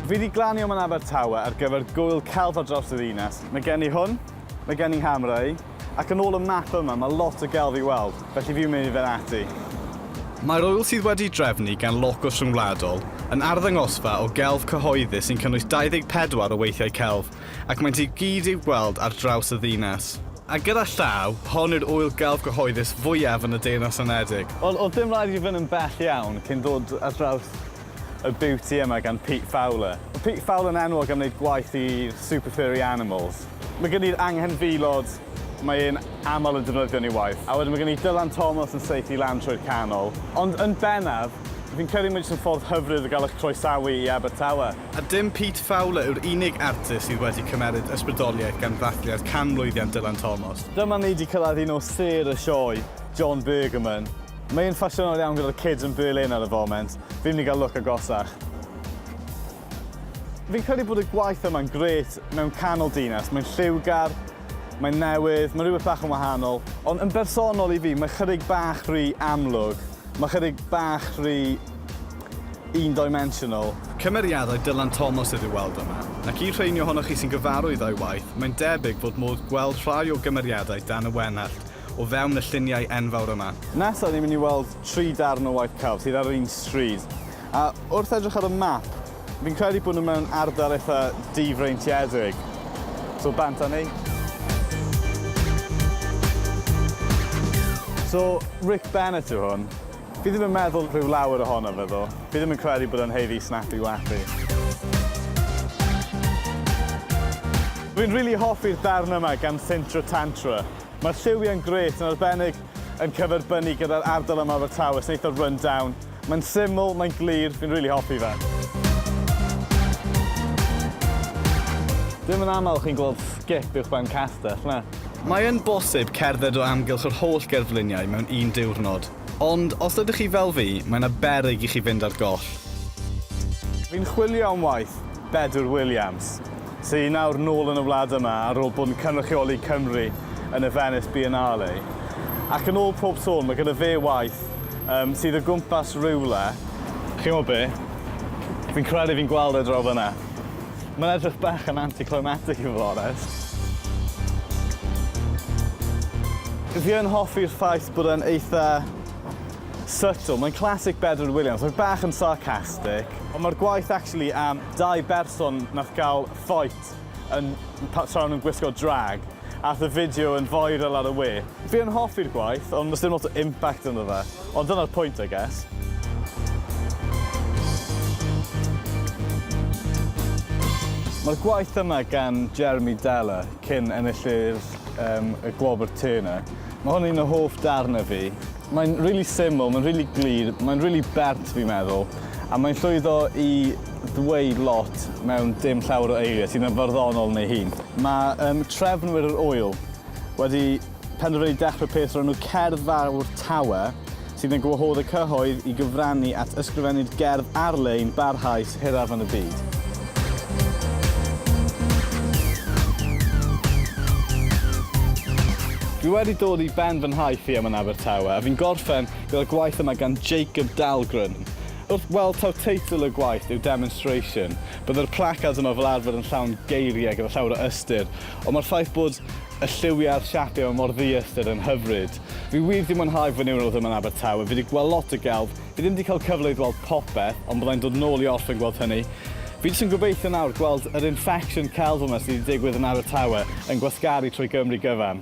Fi di glanio man Abertawe ar gyfer gwyl celf ar draws y ddinas. Mae gen i hwn, mae gen i Hamrei, ac yn ôl y map yma mae lot o gelf i weld, felly fi'n mynd i fynd ati. Mae'r ŵyl sydd wedi'i drefnu gan Locws Rhyngwladol yn arddangosfa o gelf cyhoeddus sy'n cynnwys 24 o weithiau celf ac maent i gyd i'w gweld ar draws y ddinas. A gyda llaw, hon yw'r ŵyl gelf gyhoeddus fwyaf yn y Deyrnas Unedig. Wel, oedd dim rhaid i fi fynd yn bell iawn cyn dod ar draws y beauty yma gan Pete Fowler. Mae Pete Fowler yn enwog am wneud gwaith i super furry animals. Mae gen i'r anghenfilod, mae e'n aml yn defnyddio yn ei waith, a wedyn mae gen i Dylan Thomas yn saethu lan trwy'r canol. Ond yn bennaf, fi'n credu mae jyst yn ffordd hyfryd o gael eich croesawu i Abertawe. A dim Pete Fowler yw'r unig artist sydd wedi cymeryd ysbrydoliaeth gan ddathliad canmlwyddiant Dylan Thomas. Dyma ni 'di cyrraedd un o sêr y sioe, John Bergerman. Mae e'n ffasiynol iawn gyda'r kids yn Berlin ar y foment. Fi'n mynd i gael look agosach. Fi'n credu bod y gwaith yma'n grêt mewn canol dinas. Mae'n lliwgar, mae'n newydd, mae rhywbeth bach yn wahanol. Ond yn bersonol i fi, mae chydig bach rhy amlwg. Mae chydig bach rhy... un-dimensional. Cymeriadau Dylan Thomas ydyw weld yma, ac i'r rheiny ohonoch chi sy'n gyfarwydd â'i waith, mae'n debyg fod modd gweld rhai o gymeriadau Dan y Wenallt o fewn y lluniau enfawr yma. Nesaf ni'n mynd i weld tri darn o waith celf sydd ar yr un stryd, a wrth edrych ar y map, fi'n credu bod nhw mewn ardal eitha difreintiedig, so bant â ni. So, Rick Bennett yw hwn. Fi ddim yn meddwl rhyw lawer ohono fe ddo. Fi ddim yn credu bod e'n haeddu snappy wappy. Fi'n rili hoffi'r darn yma gan Thintro Tantra. Mae'r lliwiau'n grêt, yn arbennig yn cyferbynnu gyda'r ardal yma o Abertawe sy'n eitha run down. Mae'n syml, mae'n glir, fi'n rili hoffi fe. Ddim yn aml chi'n gweld sgip uwchben castell, na? Mae'n bosib cerdded o amgylch yr holl gerfluniau mewn un diwrnod. Ond os ydych chi fel fi, mae 'na beryg i chi fynd ar goll. Fi'n chwilio am waith, Bedwyr Williams, sy nawr nôl yn y wlad yma ar ôl bod yn cynrychioli Cymru yn y Venice Biennale. Ac yn ôl pob sôn, mae gyda fe waith yym sydd o gwmpas rywle. Chi'n gwybod be? Fi'n credu fi'n gweld e draw fan'na. Mae'n edrych bach yn anticlimatic i fod yn onest. Fi yn hoffi'r ffaith bod e'n eitha subtle. Mae'n classic Bedwyr Williams. Mae'n bach yn sarcastic. Ond mae'r gwaith actually am dau berson nath gael fight yn, tra o'n nhw'n gwisgo drag. Ath y fideo yn viral ar y we. Fi yn hoffi'r gwaith ond does dim lot o impact ynddo fe. Ond dyna'r pwynt I guess. Mae'r gwaith yma gan Jeremy Deller, cyn enillydd y Gwobr Turner. Mae hwn yn un o hoff darnau fi. Mae'n rili syml, mae'n rili glir, mae'n rili bert fi'n meddwl, a mae'n llwyddo i ddweud lot mewn dim llawer o eiriau sydd yn farddonol yn ei hun. Mae um, trefnwyr yr ŵyl wedi penderfynu dechrau peth o'r enw Cerdd Fawr Tawe, sydd yn gwahodd y cyhoedd i gyfrannu at ysgrifennu'r gerdd ar-lein barhaus hiraf yn y byd. Dwi wedi dod i ben fy nhaith i yma yn Abertawe a fi'n gorffen gyda gwaith yma gan Jacob Dahlgren. Wrth weld taw teitl y gwaith yw Demonstration, bydde'r placards yma fel arfer yn llawn geiriau gyda llawer o ystyr, ond mae'r ffaith bod y lliwiau a'r siapiau yma mor ddi-ystyr yn hyfryd. Fi wir 'di mwynhau fy niwrnod yma yn Abertawe, fi 'di gweld lot o gelf, Fi ddim 'di cael cyfle i ddweld popeth, ond byddai'n dod yn ôl i orffen gweld hynny. Fi jyst yn gobeithio nawr gweld yr infection celf yma sy' 'di digwydd yn Abertawe yn gwasgaru trwy Gymru gyfan.